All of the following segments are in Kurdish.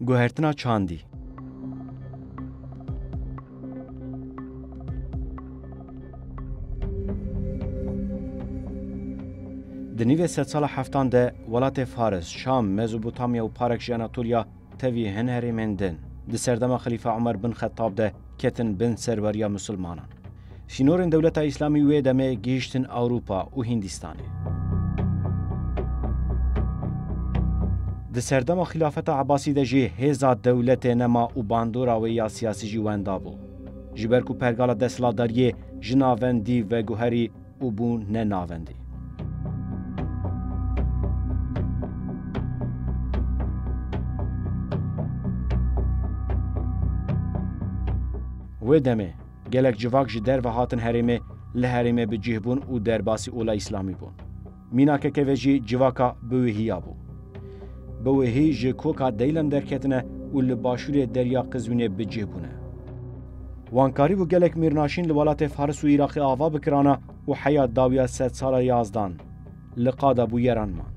Guhertina çandî. Di nîvê sedsala heftan de welatê Faris, Şam, Mezopotamya û parek ji Anatolya tevî hin herêmên din di serdema Xelîfa Umer bin Xettab de ketin bin serweriya Musulmanan. Sînorên dewleta Îslamî wê demê gihîştin Ewropa û Hîndîstanê. Di serdema Xîlafeta Ebasî de jî hêza dewletê nema û bandora wê ya siyasî jî wenda bû. Ji ber ku pergala desthilatdariyê ji navendî veguherî, û bû ne navendî. Wê demê gelek civak ji derve hatin herêmê, li herêmê bi cih bûn û derbasî ola Îslamî bûn. Mînakeke ve jî civaka biwihî ya bû. Biwihî ji koka Deylem derketine û li başûrê Derya Qizwînê bi cih bûne. Wan karîbû gelek mîrnaşîn li welatê Faris û Îraqê ava bikirana û heya dawiya sedsala yazdan li qada bûyeran man.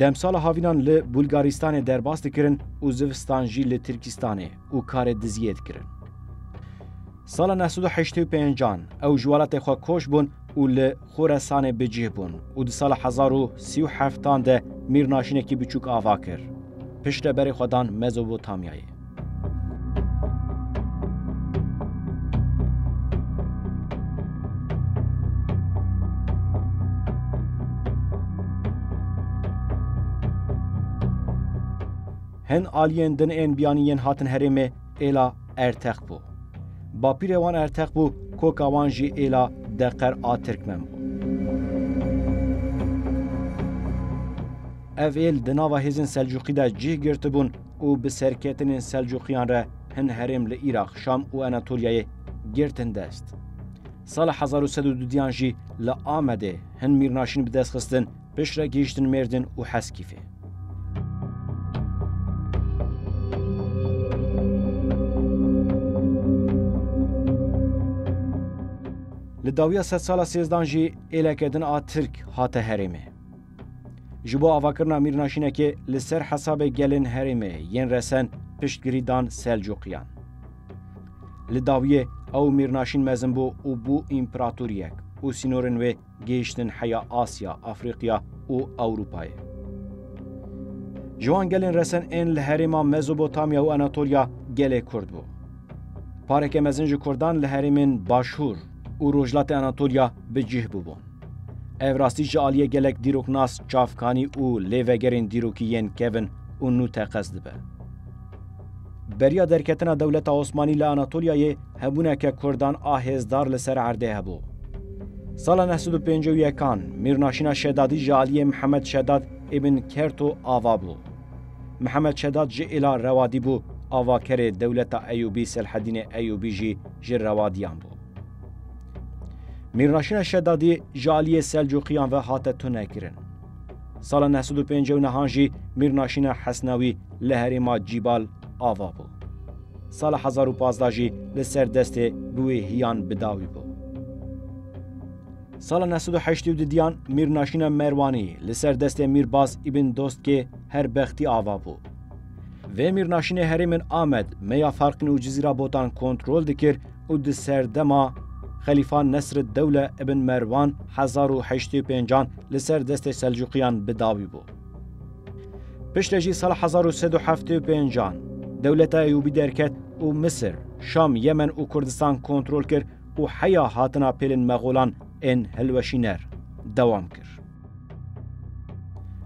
Demsala havînan li Bulgaristanê derbas dikirin û zivistan jî li Tirkîstanê û karê diziyê dikirin. Sala neh sed û heştê û pêncan ew ji welatê xwe koç bûn û li Xoresanê bi cih bûn û di sala hezar û sî û heftan de mîrnaşînekî biçûk ava kir. Piştre berê xwe dan Mezopotamyayê. Hin aliyên din ên biyanî yên hatin herêmê êla Erteq bû. Bapîrê wan Erteq bû, koka wan jî êla Deqer a Tirkmen bû. Ev êl di nava hêzên Selcuqî de cih girtibûn û bi serketinên Selcuqiyan re hin herêm li Îraq, Şam û Anatoliyayê girtin dest. Sala hezar û sed û du diyan jî li Amedê hin mîrnaşîn bi dest xistin, piştre gihîştin Mêrdin û Heskîfê. Li dawiya sedsala sêzdan jî êleke din a Tirk hate herêmê. Ji bo avakirina mîrnaşînekê li ser hesabê gelên herêmê yên resen piştgirî dan Selcuqiyan. Li dawiyê ew mîrnaşîn mezin bû û bû împeratoriyek û sînorên wê gihiştin heya Asya, Afriqiya û Ewropayê. Ji wan gelên resen ên li herêma Mezopotamya û Anatolya gelê Kurd bû. Pareke mezin ji Kurdan li herêmên Başûr, û Rojhilatê Anatolya bi cih bûbûn. Ev rastî ji aliyê gelek dîroknas, çavkanî û lêvegerên dîrokî yên kevin û nû teqez dibe. Beriya derketina dewleta Osmanî li Anatolyayê hebûneke Kurdan a hêzdar li ser erdê hebû. Sala neh sed û pêncî û yekan, Mîrnaşîna Şedadî ji aliyê Mihemed Şedad îbn Kerto ava bû. Mihemed Şedat ji îla Rewadî bû, avakerê dewleta Eyûbî Selhedînê Eyûbî jî ji Rewadiyan bû. Mîrnaşîna Şedadî ji aliyê Selcuqiyan ve hate tunekirin. Sala neh sed û pênc û nihan jî Mîrnaşîna Hesnawî li herêma Cîbal ava bû. Sala hezar û pazdeh jî li ser destê bi wê hiyan bi dawî bû. Sala neh sed û heştê û du diyan Mîrnaşîna Merwanî li ser destê Mîrbaz Îbn Dostkê her bextî ava bû. Vê Mîrnaşînê herêmên Amed, Meya Farqîn û Cizîra Botan kontrol dikir û di serdema Xelîfa Nesriddewle Îbn Merwan hezar û heşt sed û pênc an li ser destê Selcuqiyan bi dawî bû. Piştre jî sala hezar û sed û heftê û pênc an Dewleta Eyûbî derket û Misir, Şam, Yemen û Kurdistan kontrol kir û heya hatina pêlên Mexolan ên hilweşîner dewam kir.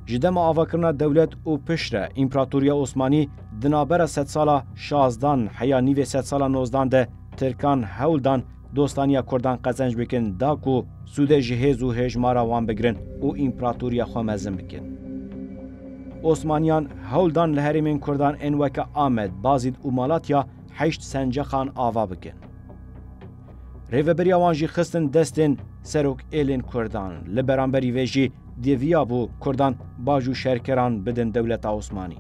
Ji dema avakirina dewlet û piştre Împeratoriya Osmanî di navbera sedsala şazdan heya nîvê sedsala nozdan de Tirkan hewl dan dostaniya Kurdan qezenc bikin da ku sûdê ji hêz û hêjmara wan bigirin û Împeratoriya xwe mezin bikin. Osmaniyan hewl dan li herêmên Kurdan ên weke Amed, Bazîd û Malatya heşt senceqan ava bikin. Rêveberiya wan jî xistin destên serok êlên Kurdan. Li beramberî vê jî dêviya bû Kurdan bac û şerkeran bidin dewleta Osmanî.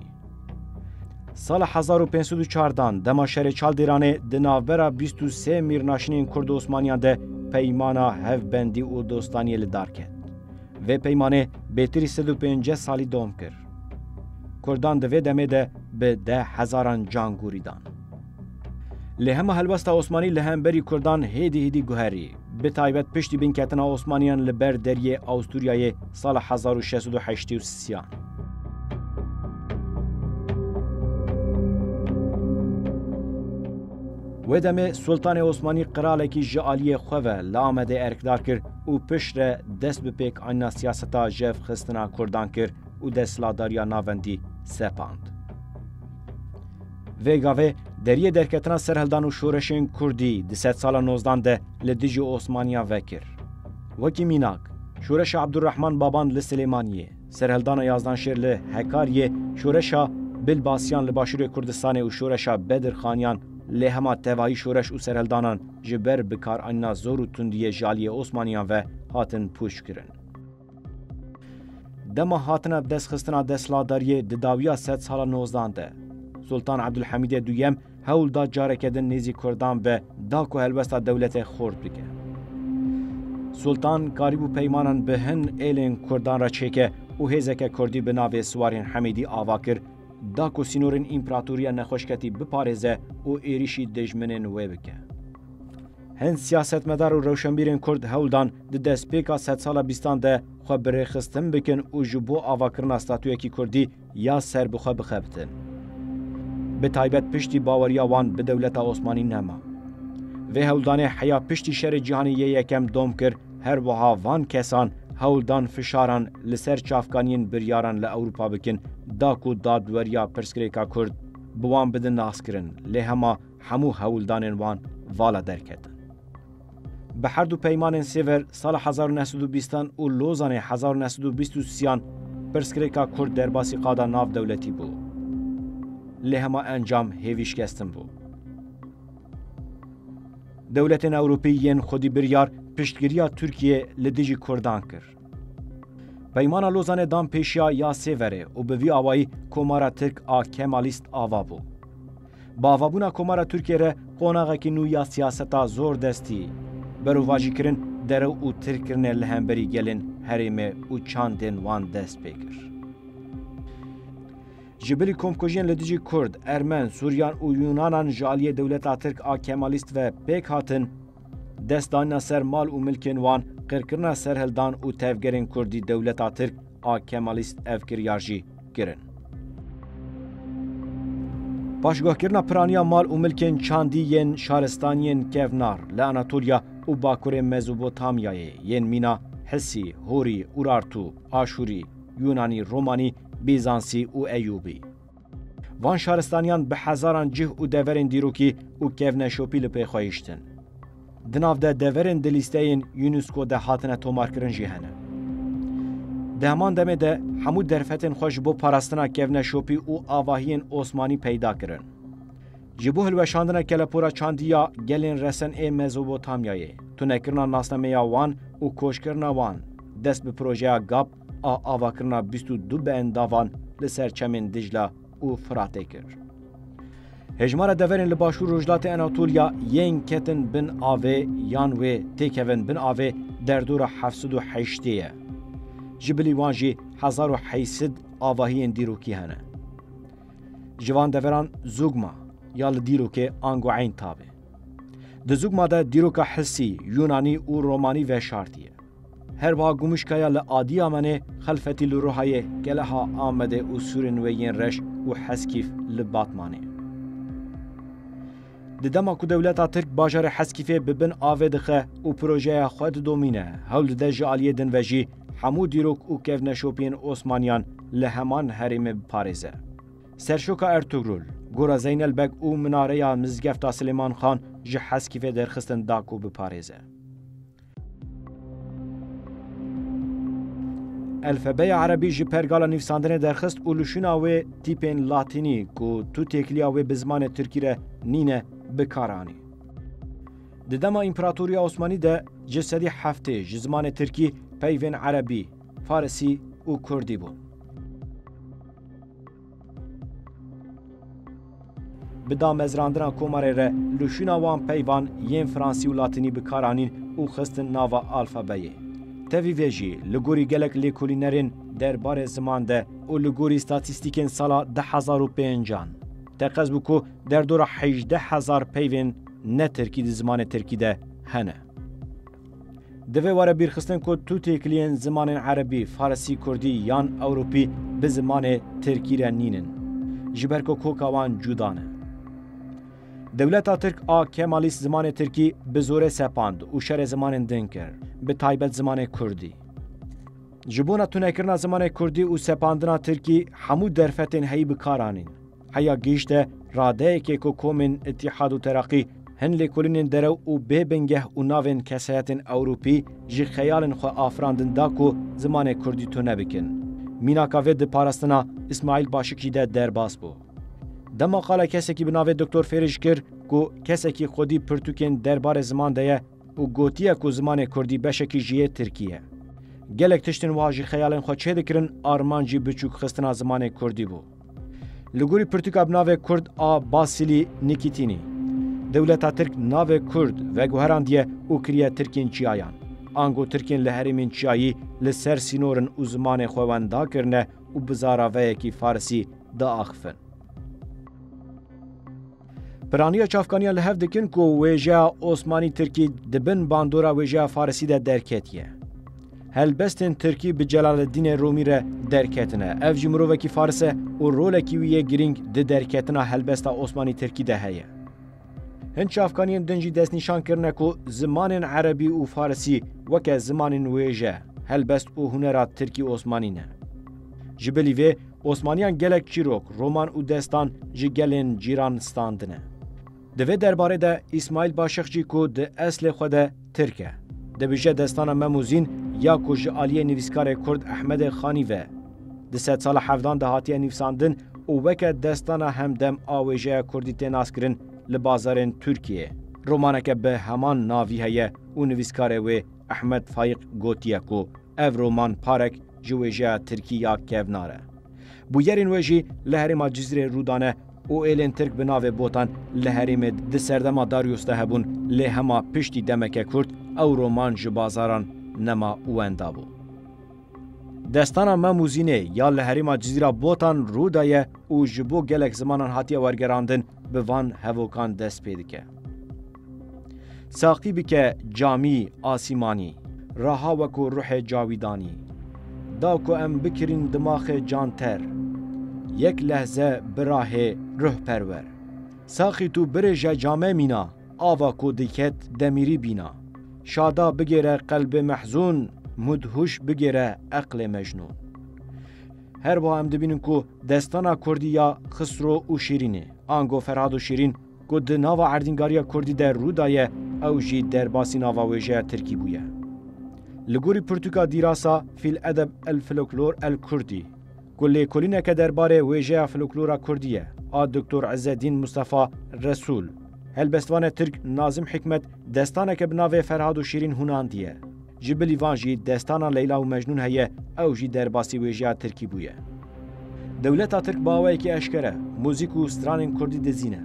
Sala 1504 dan dema şerê Çaldêranê di navbera 23 mîrnaşinên Kurd û Osmaniyan de peymana hevbendî û dostaniyê li dar ket. Vê peymanê bêtirî 150 salî dom kir. Kurdan di vê demê de bi deh hezaran can gûrî dan. Lê hema helwesta Osmanî li hemberî Kurdan hêdî hêdî guherî. Bi taybet piştî binketina Osmaniyan li ber deriyê Asturyayê sala hezar û şeş sed û heştê û siyan. Wê demê Sultanê Osmanî qiralekî ji aliyê xwe ve li Amedê erkdar kir û piştre dest bi pêkanîna siyaseta jevxistina Kurdan kir û desthilatdariya navendî sepand. Vê gavê deriyê derketina serhildan û şoreşên kurdî di sedsala nozdan de li dijî Osmaniyan vekir. Wekî mînak, şoreşa Ebdurehman Baban li Silêmaniyê, serhildana Yazdanşêr li Hekariyê, şoreşa Bilbasiyan li Başûrê Kurdistanê û şoreşa Bedirxaniyan lê hema tevayî şoreş û serhildanan ji ber bikaranîna zor û tundiyê ji aliyê Osmaniyan ve hatin pûçkirin. Dema hatina bi dest xistina desthilatdariyê di dawiya sed sala nozdan de Sultan Ebdulhamîdê duyem hewl da careke din nêzî Kurdan be da ku helwesta dewlete xort bike. Sultan karîbû peymanan bi hin êlên Kurdan re çêke û hêzeke Kurdî bi navê Siwarên Hemîdî ava kir da ku sînorên împeratoriya nexweşketî biparêze û êrîşî dijminên wê bike. Hin siyasetmedar û rewşenbîrên Kurd hewl dan di destpêka sedsala bîstan de xwe bi rêxistin bikin û ji bo avakirina statuyekî Kurdî ya ser bi xwe bixebitin. Bi taybet piştî baweriya wan bi dewleta Osmanî nema. Vê hewldanê heya piştî Şerê Cîhanê yê Yekem dom kir, her wiha van kesan hewl dan fişaran li ser çavkaniyên biryaran li Ewropa bikin da ku dadweriya pirsgirêka Kurd bi wan bidin naskirin lê hema hemû hewldanên wan vala derketin. Bi herdu peymanên Sêver sala hezar û neh sed û bîst an û Lozanê hezar û neh sed û bîst û sî an pirsgirêka Kurd derbasî qada navdewletî bû. Lê hema encam hêvî şikestin bû. Dewletên Ewropî yên xwedîbiryar piştgiriya Tirkiyeyê li dijî Kurdan kir. Peymana Lozanê dan pêşiya ya sê verê û bi vî awayî Komara Tirk a Kemalîst ava bû. Bi avabûna Komara Tirkiyê re qonaxekî nû ya siyaseta zordestî, berovajîkirin, derew û tirkirine li hemberî gelên herêmê û çandên wan dest pê kir. Ji bilî komkujiyên li dijî Kurd, Ermen, Suryan û Yunanan ji aliyê dewleta Tirk a Kemalîst ve pêk hatin, Dest dana ser mal û milkên wan, qirkirina serhildan û tevgerên kurdî dewleta tirk a kemalîst ev kiryar jî kirin. Paşguhkirina piraniya mal û milkên çandî yên şaristaniyên kevnar li Anatolya û bakurê Mezopotamyayê yên mîna Hisî, Horî, Urartu, Aşûrî, Yûnanî, Romanî, Bîzansî û Eyûbî. Van şaristaniyan bi hezaran cih û deverên dîrokî û kevneşopî li pê xwe hiştin. Di nav de deverên di lîsteyên UNESCO de hatine tomarkirin jî hene. Di heman demê de hemû derfetên xwe ji bo parastina kevneşopî û avahiyên Osmanî peyda kirin. Ji bo hilweşandina kelepora çandî ya gelên resen ê Mezopotamyayê, tunekirina nasnameya wan û koçkirina wan dest bi projeya GAP, a avakirina bîst û du beendavan li ser çemên Dicla û Firatê kir. Hejmara deverên li Başûr Rojhilatê Anatolya yên ketin bin avê yan wê têkevin bin avê derdora heft sed û heştê ye. Ji bilî wan jî hezar û heşt sed avahiyên dîrokî hene. Ji van deveran Zugma ya li dîrokê ango Eyn Tabe. Di Zugma de dîroka Hisî, Yûnanî û Romanî veşartiye. Her wiha Gumuşkaya li Adiyamenê, Xelfetî li Ruhayê, Keleha, Amedê û sûrên wê yên reş û Heskîf li Batmanê. Di dema ku dewleta Tirk bajarê Heskîfê bi bin avê dixe û projeya xwe didomîne, hewl dide ji aliyê din ve jî hemû dîrok û kevneşopiyên Osmaniyan li heman herêmê biparêze. Serşoka Ertugrul, Gora Zeynel Beg û minareya Mizgefta Silêman Xan ji Heskîfê derxistin da ku biparêze. Elfebeya Erebî ji pergala nivîsandinê derxist û li şûna wê tîpên Latînî ku tu têkiliya wê bi zimanê Tirkî re nîne bi kar anî. Di dema Împeratoriya Osmanî de ji sedî heftê ji zimanê Tirkî peyvên Erebî, Farisî û Kurdî bûn. Bi damezrandina komarê re lûşîna wan peyvan yên fransî û latînî bi kar anîn û xistin nava alfabeyê. Tevî vê jî li gorî gelek lêkolînerên der barê ziman de û li gorî statîstîkên sala du hezar û pênc an teqez bû ku derdora hejdeh hezar peyvên ne tirkî di zimanê tirkî de hene. Divê were bîrxistin ku tu têkiliyên zimanên erebî, farisî, kurdî yan ewropî bi zimanê tirkî re nîn in. Ji ber ku koka wan cuda ne. Dewleta tirk a Kemalîst zimanê tirkî bi zorê sepand û şerê zimanên din kir, bi taybet zimanê kurdî. Ji bona tunekirina zimanê kurdî û sepandina tirkî hemû derfetên heyî bi kar anîn. Heya gihîşte radeyekê ku komên Îtîhad û Teraqî hin lêkolînên derew û bê bingeh û navên kesayetên Ewropî ji xeyalên xwe afirandin da ku zimanê Kurdî tune bikin. Mînaka vê di parastina Îsmaîl Başikî de derbas bû. Dema qala kesekî bi navê Doktor Fêrî ji kir ku kesekî xwedî pirtûkên derbarê ziman de ye, û gotiye ku zimanê kurdî beşekî ji yê tirkî ye. Gelek tiştên wiha jî xeyalên xwe çêdikirin, armancî biçûkxistina zimanê kurdî bû. Li gorî pirtûka bi navê Kurd a Basilî Nîkîtînî, dewleta tirk navê kurd veguherandiye û kiriye tirkên çiyayan. Ango tirkên li herêmên çiyayî li ser sînor in û zimanê xwe wenda kirine û bi zaraveyekî farisî diaxifin. Piraniya çavkaniya li hev dikin ku wêjeya Osmanî Tirkî di bin bandora wêjeya Farisî de derketiye. Helbestên Tirkî bi Celaleddînê Romî re derketine. Ev jî mirovekî Faris e û rolekî wî yê girîng di derketina helbesta Osmanî Tirkî de heye. Hin çavkaniyên din jî destnîşan kirine ku zimanên Erebî û Farisî weke zimanên wêje, helbest û hunera Tirkî Osmanî ne. Ji bilî vê Osmaniyan gelek çîrok, roman û destan ji gelên cîran standine. Di vê derbarê de Îsmaîl Başixcî ku di eslê xwe de Tirk e, dibije destana Memûzîn ya ku ji aliyê nivîskarê Kurd Ehmedê Xanî ve di sedsala hevdan de hatiye nivîsandin û weke destana hemdem a wêjeya Kurdî tê naskirin li bazarên Tirkiyeyê romaneke bi heman navî heye û nivîskarê wê Ehmed Fayîq gotiye ku ev roman parek ji wêjeya tirkî ya kevnar e. Bûyerên wê jî li herêma Cizîrê rû dane û êlên tirk bi navê botan li herêmê di serdema Darius de hebûn lê hema piştî demeke kurt ew roman ji bazaran nema wenda bû. Destana Mem û Zînê ya li herêma Cizîra Botan rû daye û ji bo gelek zimanan hatiye wergerandin bi van hevokan dest pê dike. Saqî bike camî, asîmanî. Raha weko ruhê cawîdanî. Da ku em bikirîn dimaxê can ter. Yek lehze birahê ruh perwer. Saqî tu birêje came mîna. Ava ku diket demîrî bîna. Şada bigêre qelbê mehzûn. Mûd hûş bigêre eqlê mecnûn. Her wiha em dibînin ku destana kurdî ya Xisro û Şîrînê, ango Ferhad û Şîrîn, Ku di nava erdîngariya kurdî de rû daye, ew jî derbasî nava wêjeya tirkî bûye. Li gorî pirtûka dîrasa Fî l-edeb el-filoklor el-kurdî, ku lêkolîneke derbarê wêjeya filoklora kurdî ye, a Doktor Îzzeddîn Mistefa Resûl, helbestvanê tirk Nazim Hîkmet destaneke bi navê Ferhad û Şîrîn hûnandiye. Ji bilî van jî destana Leyla û Mecnûn heye, ew jî derbasî wêjeya tirkî bûye. Dewleta tirk bi awayekî eşkere muzîk û stranên kurdî dizîne.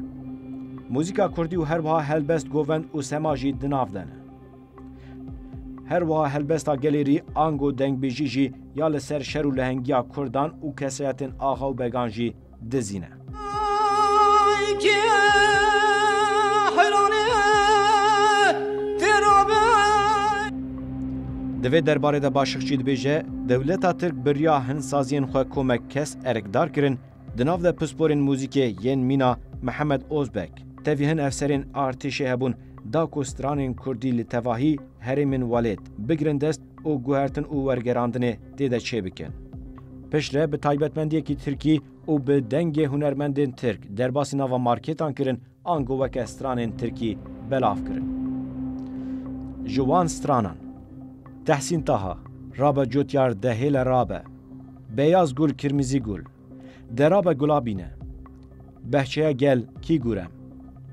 Muzîka kurdî û herwiha helbest govend û sema jî di nav de ne. Herwiha helbesta gelêrî ango dengbêjî jî ya li ser şer û lehengiya kurdan û kesayetên axa û began jî dizî ne. Di vê derbarê de Başixçî dibêje, Dewleta Tirk biriya hin saziyên xwe komek kes erkdar kirin, di nav de pisporên muzîkê yên mîna Mihemed Ozbek, tevî hin efserên artêşê hebûn da ku stranên kurdî li tevahî herêmên welêt bigirin dest, û guhertin û wergerandinê tê de çêbikin. Piştre bi taybetmendiyekî tirkî û bi dengê hunermendên tirk derbasî nava markêtan kirin ango weke stranên tirkî belav kirin. Ji wan stranan Tehsîn Taha, Rabe Cotyar De Hêle Rabe, Beyaz Gul Kirmizî Gul, De Rabe Gulabîne, Behçeya Gel Kî Gurem,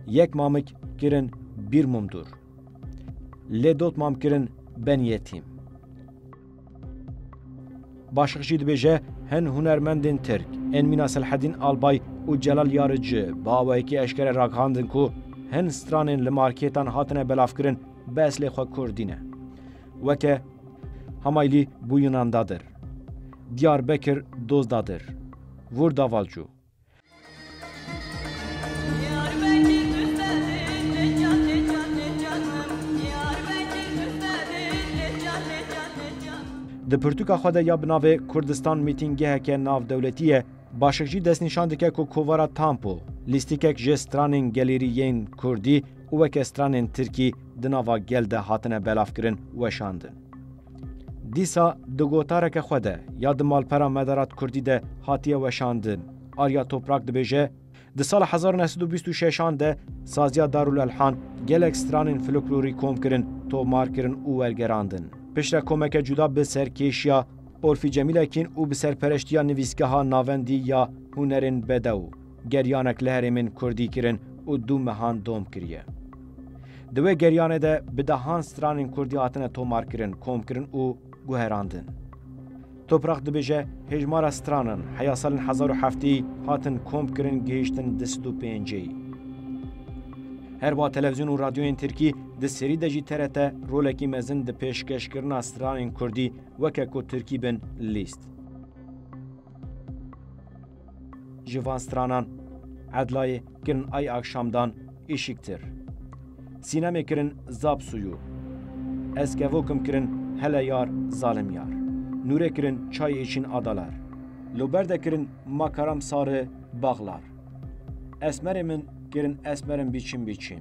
Yek Mamik kirin Bîr Mumdur. Lê dot mam kirin ben yetîm. Başik jî dibêje hin hunermendên Tirk ên mîna Selhedîn Albay û Celal Yarici bi awayekî eşkere ragihandin ku hin stranên li markêtan hatine belavkirin bi eslê xwe Kurdî ne. Weke Hamaylî bû Yunan dadir. Diyarbekir Dozdadir. Vur Davalcu. Di pirtûka xwe de ya bi navê Kurdistan Meeting geheke navdewletî ye, Başik jî destnîşan dike ku kovara Tampo, lîstikek ji stranên gelêrî yên Kurdî û weke stranên Tirkî di nava gel de hatine belavkirin, weşandin. Dîsa di gotareke xwe de ya di malpera Medarat Kurdî de hatiye weşandin, Arya Toprak dibêje, Di sala hezar û neh sed û bîst û şeş an de saziya Darul Elhan gelek stranên folklorî kom kirin, tomar kirin û wergerandin. Piştre komeke cuda bi serkêşiya Olfî Cemîlekîn û bi serpereştiya Nivîsgeha Navendî ya Hunerên Bedew, Geryanek li herêmên Kurdî kirin û du mehan dom kiriye. Di wê geryanê de bi dehan stranên Kurdî hatine tomarkirin, komkirin û guherandin. Toprak dibêje, hêjmara stranan heya salên hezar û heftî hatin komkirin gihiştin di sid û pêncî. Her wa televizyon û radyoyên Tirkî di serî de jî TRT rolekî mezin di pêşkeşkirina stranên Kurdî weke ku Tirkî bin lîst. Ji van stranan Edlayê kirin ay akşamdan êşiktir. Sînemê kirin zap suyu. Ez kevokim kirin hele yar zalim yar. Nûrê kirin çay êşîn adalar. Lo berde kirin ma karam sari baghlar. Esmerê min kirin esmerim bîçim bîçim.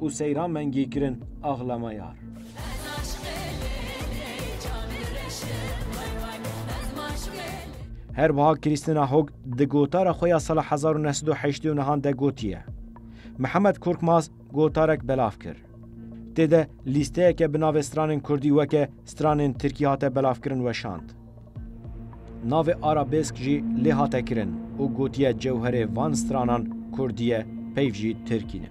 û seyra mengî kirin axlama yar. Her wiha Krîstina Hog di gotara xwe ya sala hezar û neh sed û heştê û nihan de gotiye, Mihemed Korkmaz gotarek belav kir. Tê de lîsteyeke bi navê stranên kurdî weke stranên tirkî hate belavkirin weşand. Navê arabêsk jî lê hate kirin û gotiye cewherê van stranan kurdî ye peyv jî tirkî ne.